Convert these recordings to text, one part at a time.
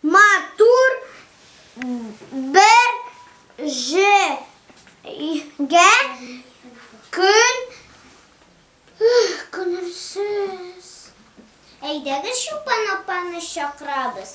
Матур бер җиргә көн күнерсез. Әйдәгез Чулпан апаны чакырабыз.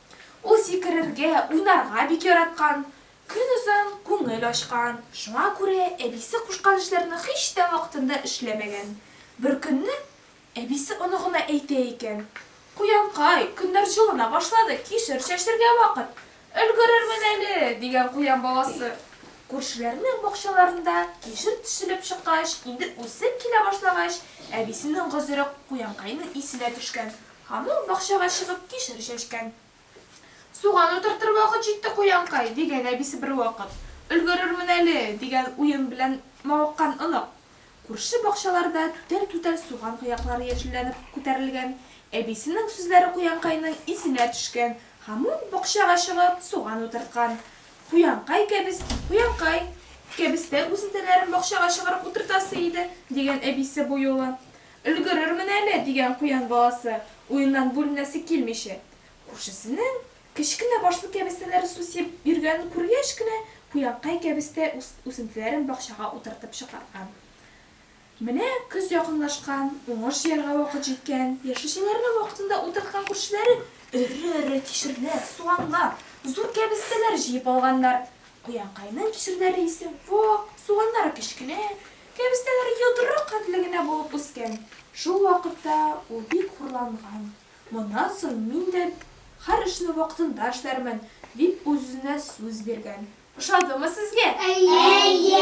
Ул сикерергә, уйнарга бик яраткан, көнозын күңел ачкан. Шуңа күрә әбисе кушкан эшләрне һич тә вакытында эшләмәгән. Беркөнне әбисе оныгына әйтә икән, Куянкай, көннәр җылына башлады, кишер чәчергә вакыт. Өлгерермен әле, дигән куян баласы. Күршеләрнең бакчаларында кишер тишелеп чыккач, инде үсеп килә башлагач, әбисенең гозере Куянкайның исенә төшкән. Һәм ул бакчага чыгып кишер чәчкән. Суган утыртыр вакыт җитте, куянкай, дигән әбисе бервакыт. Өлгерермен әле, дигән уен белән мавыккан онык. Күрше бакчаларда түтәл-түтәл суган кыяклары яшелләнеп күтәрелгән. Әбисенең сүзләре куянкайның исенә төшкән һәм ул бакчага чыгып суган утырткан. Куянкай кәбес, куянкай, кәбестә үзентәләрен бакчага чыгарып утыртасы иде, дигән әбисе бу юлы. Өлгерермен әле, дигән куян баласы, уеннан бүленәсе килмичә, күршесенең кечкенә башлы кәбестәләр су сибеп йөргәнен күргәч кенә, куянкай кәбестә үсентеләрен бакчага утыртып чыгарган. Менә көз якынлашкан, уңыш җыярга вакыт җиткән. Яшелчәләрне вакытында утырткан күршеләре эре-эре кишерләр, суганнар, зур кәбестәләр җыеп алганнар. Куянкайның кишерләре исе вак, суганнары кечкенә, Кәбестәләр йодрык хәтле генә булып үскән. Шул вакытта ул бик хурланган. Моннан соң мин дә һәр эшне вакытында эшләрмен, дип үз-үзенә сүз биргән. Ошадымы сезгә? Әйе!